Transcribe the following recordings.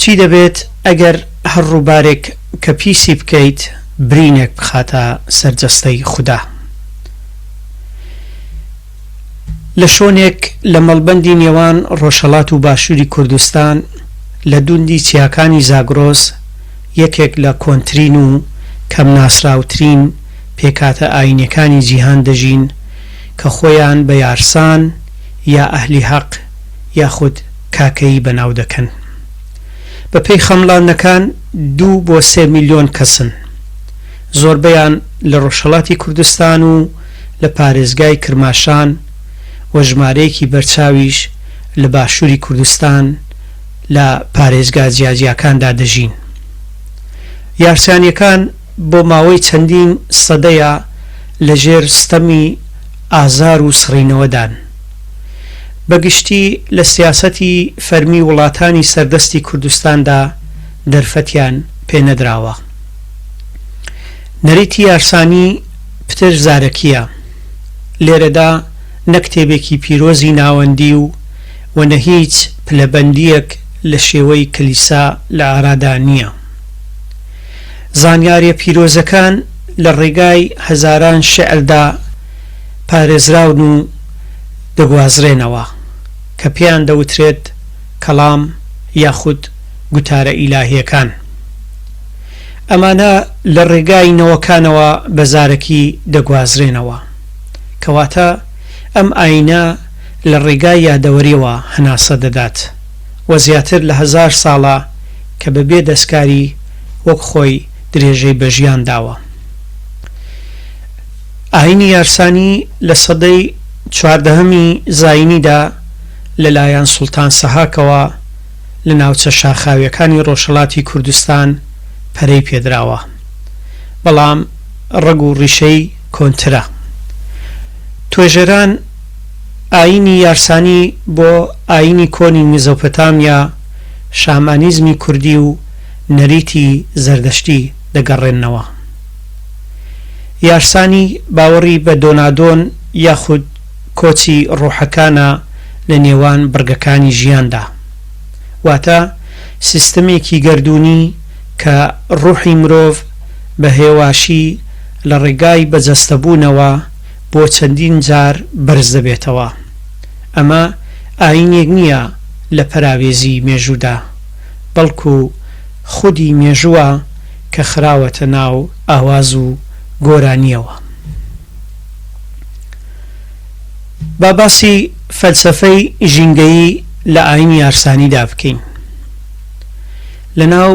چی دەبێت ئەگەر هەر ڕووبارێک کە پیسی بکەیت برینێک بخاتە سەر جەستەی خودا؟ لە شۆنێک لە مەڵبەندی نێوان ڕۆژهەڵات و باشووری کوردستان لە دوندی چیاکانی زاگرۆس یەکێک لە کۆنترین و کەم ناسراوترین پێکاتە ئاینیەکانی جیهان دەژین کە خۆیان بە یارسان یا ئەهلی هەق یاخود کاکەیی بەناو دەکەن. بە پێی خەمڵاندنەکان دوو بۆ سێ ملیۆن کەسن. زۆربەیان لە ڕۆژهەڵاتی کوردستان و لە پارێزگای کرماشان و ژمارەیەکی بەرچاویش لە باشووری کوردستان لە پارێزگا جیاجیاکاندا دەژین. یارسانیەکان. بۆ ماوەی چەندین سەدەیە لە ژێر ستەمی ئازار و سڕینەوەدان. بە گشتی لە سیاسەتی فەرمی وڵاتانی سەردەستی کوردستاندا دەرفەتیان پێ نەدراوە. نەریتی یارسانی پتر زارەکییە. لێرەدا نە کتێبێکی پیرۆزی ناوەندی و و نە هیچ پلەبەندییەک لە شێوەی کلیسا لە ئارادا نییە. زانیاریە پیرۆزەکان لە ڕێگای هەزاران شیعردا پارێزراون و دەگوازرێنەوە کە پێیان دەوترێت کەڵام یاخود گوتارە ئیلاهیەکان. ئەمانە لە ڕێگای نەوەکانەوە بە زارەکی دەگوازرێنەوە. کەواتە ئەم ئایینە لە ڕێگای یادەوەریەوە هەناسە دەدات. و زیاتر لە هەزار ساڵە کە بە بێ دەستکاری وەک خۆی درێژەی بە ژیان داوە. ئایینی یارسانی لە سەدەی چواردەهەمی زایینیدا لە لایەن سوڵتان سەهاکەوە لە ناوچە شاخاویەکانی ڕۆژهەڵاتی کوردستان پەرەی پێدراوە بەڵام ڕەگ و ڕیشەی کۆنترە. توێژەران. ئایینی یارسانی بۆ ئایینی کۆنی میزۆپۆتامیا، شامانیزمی کوردی و نەریتی زەردەشتی دەگەڕێننەوە. یارسانی باوەڕی بە دۆنادۆن یاخود کۆچی ڕۆحەکانە لە نێوان بڕگەکانی ژیاندا. واتە سیستەمێکی گەردوونی کە ڕۆحی مرۆڤ بە هێواشی لە ڕێگای بەجەستەبوونەوە، بۆ چەندین جار بەرز دەبێتەوە. ئەمە ئایینێک نییە لە پەراوێزی مێژوودا، بەڵکو خودی مێژووە کە خراوەتە ناو ئاواز و گۆرانییەوە. با باسی فەلسەفەی ژینگەیی لە ئایینی یارسانیدا بکەین. لە ناو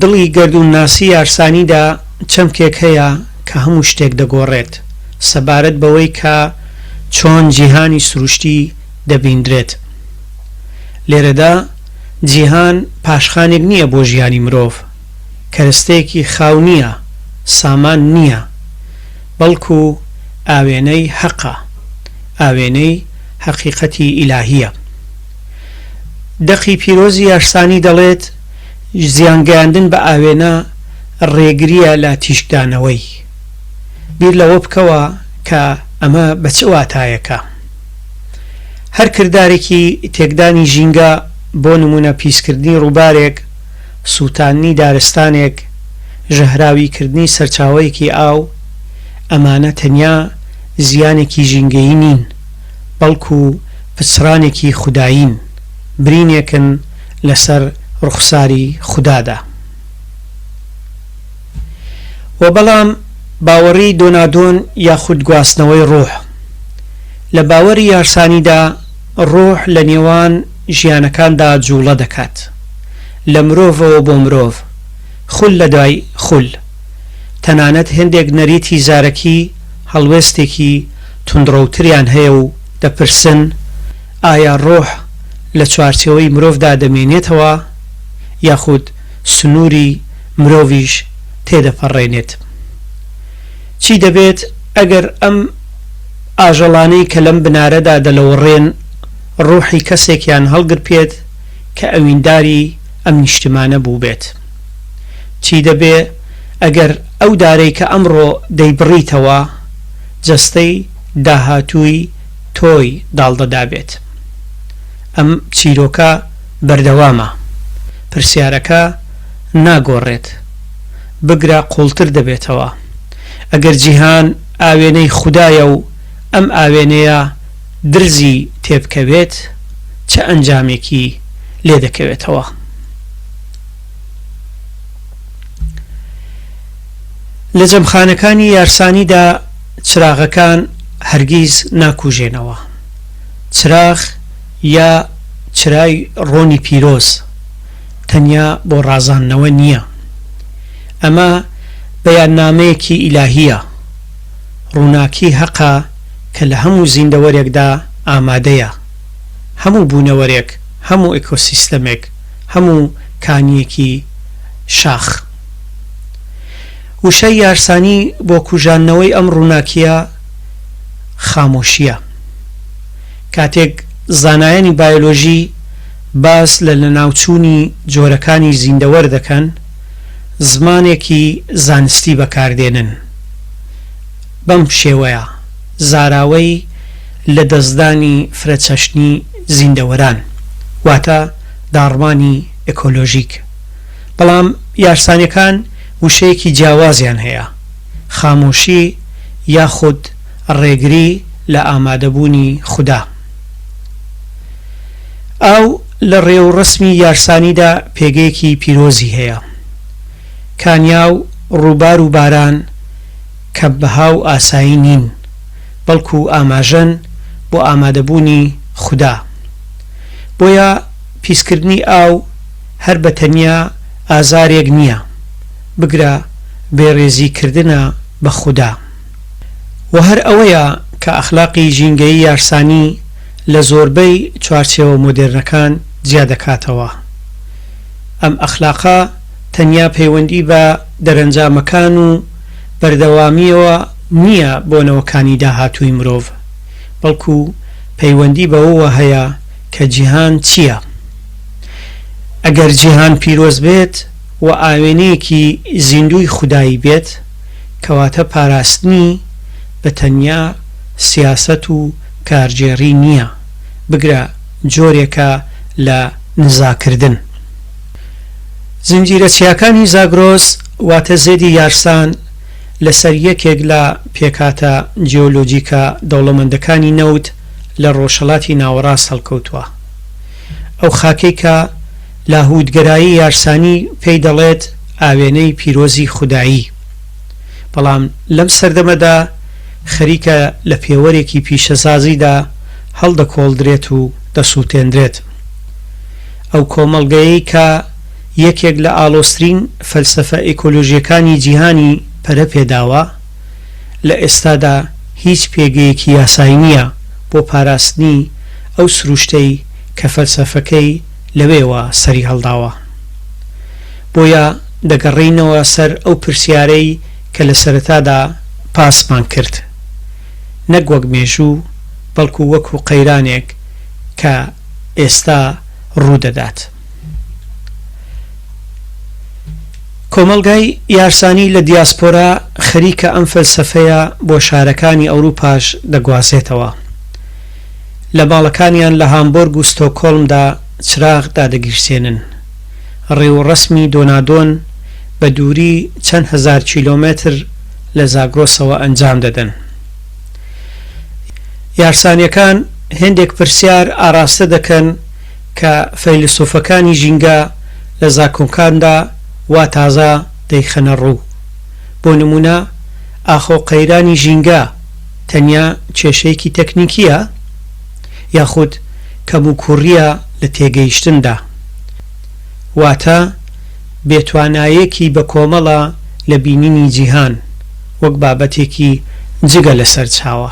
دڵی گەردوونناسی یارسانیدا چەمکێک هەیە کە هەموو شتێک دەگۆڕێت سەبارەت بەوەی کە چۆن جیهانی سروشتی دەبیندرێت. لێرەدا جیهان پاشخانێک نییە بۆ ژیانی مرۆڤ، کەرستەیەکی خاو نییە، سامان نییە، بەڵکو ئاوێنەی هەقە، ئاوێنەی هەقیقەتی ئیلاهییە. دەقی پیرۆزی یارسانی دەڵێت، زیان گەیاندن بە ئاوێنە ڕێگرییە لە تیشکدانەوەی. بیر لەوە بکەوە کە ئەمە بە چ واتایەکە. هەر کردارێکی تێکدانی ژینگە، بۆ نموونە پیسکردنی ڕووبارێک، سووتاندنی دارستانێک، ژەهراویکردنی سەرچاوەیەکی ئاو، ئەمانە تەنیا زیانێکی ژینگەیی نین، بەڵکو پچڕانێکی خودایین، برینێکن لەسەر ڕوخساری خودادا. وە بەڵام باوەڕی دۆنادۆن یاخود گواستنەوەی ڕۆح، لە باوەری یارسانیدا ڕۆح لە نێوان ژیانەکاندا جوڵە دەکات، لە مرۆڤەوە بۆ مرۆڤ، خول لە دوای خول. تەنانەت هێندێک نەریتی زارەکی هەڵوێستێکی توندڕەوتریان هەیە و دەپرسن، ئایا ڕۆح لە چوارچێوەی مرۆڤدا دەمێنێتەوە یاخود سنووری مرۆڤیش تێدەپەڕێنێت؟ چی دەبێت ئەگەر ئەم ئاژەڵانەی کە لەم بنارەدا دەلەوەڕێن ڕۆحی کەسێکیان هەڵگرپێت کە ئەوینداری ئەم نیشتمانە بووبێت؟ چی دەبێ ئەگەر ئەو دارەی کە ئەمڕۆ دەیبڕیتەوە، جەستەی داهاتووی تۆی داڵدە دابێت؟ ئەم چیرۆکە بەردەوامە. پرسیارەکە ناگۆڕێت. بگرە قووڵتر دەبێتەوە. ئەگەر جیهان ئاوێنەی خودایە و ئەم ئاوێنەیە درزی تێبکەوێت، چ ئەنجامێکی لێ دەکەوێتەوە؟ لە جەمخانەکانی یارسانیدا چراغەکان هەرگیز ناکوژێنەوە. چراغ یا چرای ڕۆنی پیرۆز تەنیا بۆ ڕازاندنەوە نییە. ئەمە بەیاننامەیەکی ئیلاهییە، ڕووناکی هەقە کە لە هەموو زیندەوەرێکدا ئامادەیە، هەموو بوونەوەرێک، هەموو ئێکۆسیستەمێک، هەموو کانییەکی شاخ. وشەی یارسانی بۆ کوژاندنەوەی ئەم ڕووناکییە خامۆشییە. کاتێک زانایانی بایۆلۆژی باس لە لەناوچوونی جۆرەکانی زیندەوەر دەکەن، زمانێکی زانستی بەکار دێنن. بەم شێوەیە زاراوەی لەدەستدانی فرەچەشنی زیندەوەران، واتە، داڕمانی ئێکۆلۆژیک. بەڵام یارسانەکان وشەیەکی جیاوازیان هەیە، خامۆشی یاخود ڕێگری لە ئامادەبوونی خودا. ئاو لە ڕێوڕەسمی یارسانیدا پێگەیەکی پیرۆزی هەیە. کانیا و ڕووبار و باران کەمبەها و ئاسایی نین، بەڵکو ئاماژەن بۆ ئامادەبوونی خودا. بۆیە پیسکردنی ئاو هەر بە تەنیا ئازارێک نییە، بگرە بێڕێزی کردنە بە خودا. وە هەر ئەوەیە کە ئەخلاقی ژینگەیی یارسانی لە زۆربەی چوارچێوە مۆدێرنەکان جیا دەکاتەوە. ئەم ئەخلاقە تەنیا پەیوەندی بە دەرەنجامەکان و بەردەوامییەوە نییە بۆ نەوەکانی داهاتووی مرۆڤ، بەڵکو پەیوەندی بەوەوە هەیە کە جیهان چییە. ئەگەر جیهان پیرۆز بێت و ئاوێنەیەکی زیندووی خودایی بێت، کەواتە پاراستنی بە تەنیا سیاسەت و کارگێڕی نییە، بگرە جۆرێکە لە نزاکردن. زنجیرە چیاکانی زاگرۆس واتە زێدی یارسان لەسەر یەکێک لە پێکهاتە جیۆلۆجیکە دەوڵەمەندەکانی نەوت لە ڕۆژهەڵاتی ناوەڕاست هەڵکەوتووە. ئەو خاکەی کە لاهووتگەرایی یارسانی پێی دەڵێت ئاوێنەی پیرۆزی خودایی، بەڵام لەم سەردەمەدا خەریکە لە پێوەرێکی پیشەسازیدا هەڵدەکۆڵدرێت و دەسووتێندرێت. ئەو کۆمەڵگەیەی کە یەکێک لە ئاڵۆزترین فەلسەفە ئێکۆلۆژییەکانی جیهانی پەرە پێ داوە، لە ئێستادا هیچ پێگەیەکی یاسایی نییە بۆ پاراستنی ئەو سروشتەی کە فەلسەفەکەی لەوێوە سەری هەڵداوە. بۆیە دەگەڕێینەوە سەر ئەو پرسیارەی کە لە سەرەتادا باسمان کرد، نەک وەک مێژوو، بەڵکو وەکو قەیرانێک کە ئێستا ڕوو دەدات. کۆمەڵگای یارسانی لە دیاسپۆرا خەریکە ئەم فەلسەفەیە بۆ شارەکانی ئەوروپاش دەگوازێتەوە. لە ماڵەکانیان لە هامبۆرگ و ستۆکهۆڵمدا چراغ دادەگیرسێنن. ڕێوڕەسمی دۆنادۆن بە دووری چەند هەزار کیلۆمەتر لە زاگرۆسەوە ئەنجام دەدەن. یارسانیەکان هێندێک پرسیار ئاراستە دەکەن کە فەیلسوفەکانی ژینگە لە زاکۆنکاندا وا تازە دەیخەنە ڕوو. بۆ نموونە، ئاخۆ قەیرانی ژینگە تەنیا کێشەیەکی تەکنیکییە؟ یاخود کەموکووڕییە لە تێگەیشتندا؟ واتە بێتوانایەکی بەکۆمەڵە لە بینینی جیهان وەک بابەتێکی جگە لە سەرچاوە؟